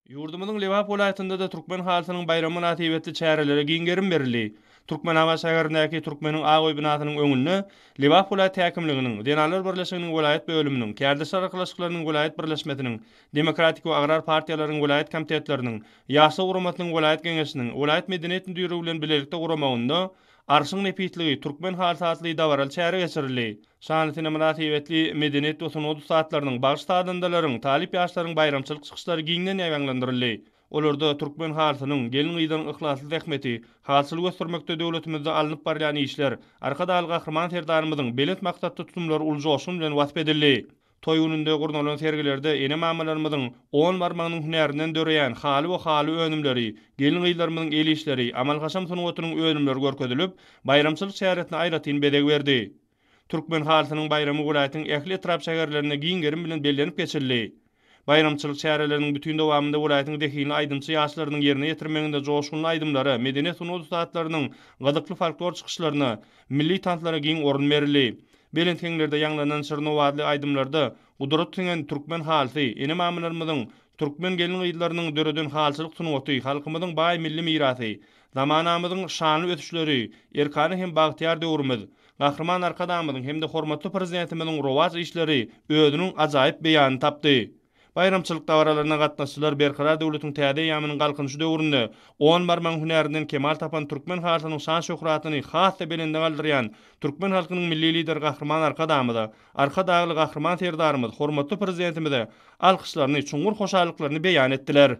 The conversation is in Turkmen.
Ýurdumyzyň Lebap welaýatynda-da türkmen halysynyň baýramy mynasybetli çärelere giň gerim berildi. Türkmenabat şäherindäki Türkmeniň ak öý binasynyň öňünde Lebap welaýat häkimliginiň, Zenanlar birleşiginiň welaýat bölüminiň, Kärdeşler arkalaşyklarynyň welaýat birleşmesiniň, Demokratik we agrar partiýalaryň welaýat komitetleriniň, Ýaşlar guramasynyň welaýat geňeşiniň, welaýat medeniýet müdirligi bilen bilelikde guramagynda Arşyň nepisligi, türkmen halysy atly dabaraly çäre geçirildi. Şanly sene mynasybetli medeniýet we sungat ussatlarynyň, bagşy-sazandalaryň, talyp ýaşlaryň baýramçylyk çykyşlary giňden ýaýbaňlandyryldy. Olarda türkmen halysynyň, gelin-gyzlaryň yhlasly zähmeti, halçyly göstermekde döwletimizde alnyp barylýan işler, Arkadagly Gahryman Serdarymyzyň belent maksatly tutumlary uly joşgun bilen wasp edildi. Toý gününde gurnalan sergilerde ene-mamalarymyzyň on barmagynyň hünärinden döreýän haly we haly önümleri, gelin-gyzlarymyzyň el işleri, amal-haşam sungatynyň önümleri görkezilip, baýramçylyk çäresine aýratyn bezeg berdi. Türkmen halysynyň baýramy welaýatyň ähli etrap-şäherlerinde giň gerim bilen bellenip geçildi. Baýramçylyk çäreleriniň bütin dowamynda welaýatyň zehinli aýdymçy ýaşlarynyň ýerine ýetirmeginde joşgunly aýdymlara, medeniýet-sungat ussatlarynyň gyzykly folklor çykyşlaryna, milli tanslara giň orun berildi. Belent heňlerde ýaňlanan şirin owazly aýdymlarda gudrat siňen türkmen halysy, ene-mamalarymyzyň, türkmen gelin-gyzlarynyň döreden halyçylyk sungaty, halkymyzyň baý milli mirasy, zamanamyzyň şanly ösüşleri, erkana hem bagtyýar döwrümiz, Gahryman Arkadagymyzyň hem-de hormatly Prezidentimiziň rowaç işleri özüniň ajaýyp beýanyny tapdy. Baýramçylyk dabaralaryna gatnaşyjylar Berkarar döwletiň täze eýýamynyň Galkynyşy döwründe on barmagyň hünärinden kemal tapan türkmen halysynyň şan-şöhratyny has-da belende galdyrýan türkmen halkynyň Milli Lideri Gahryman Arkadagymyza, Arkadagly Gahryman Serdarymyz, hormatly Prezidentimize alkyşlaryny, çuňňur hoşallyklaryny beýan etdiler.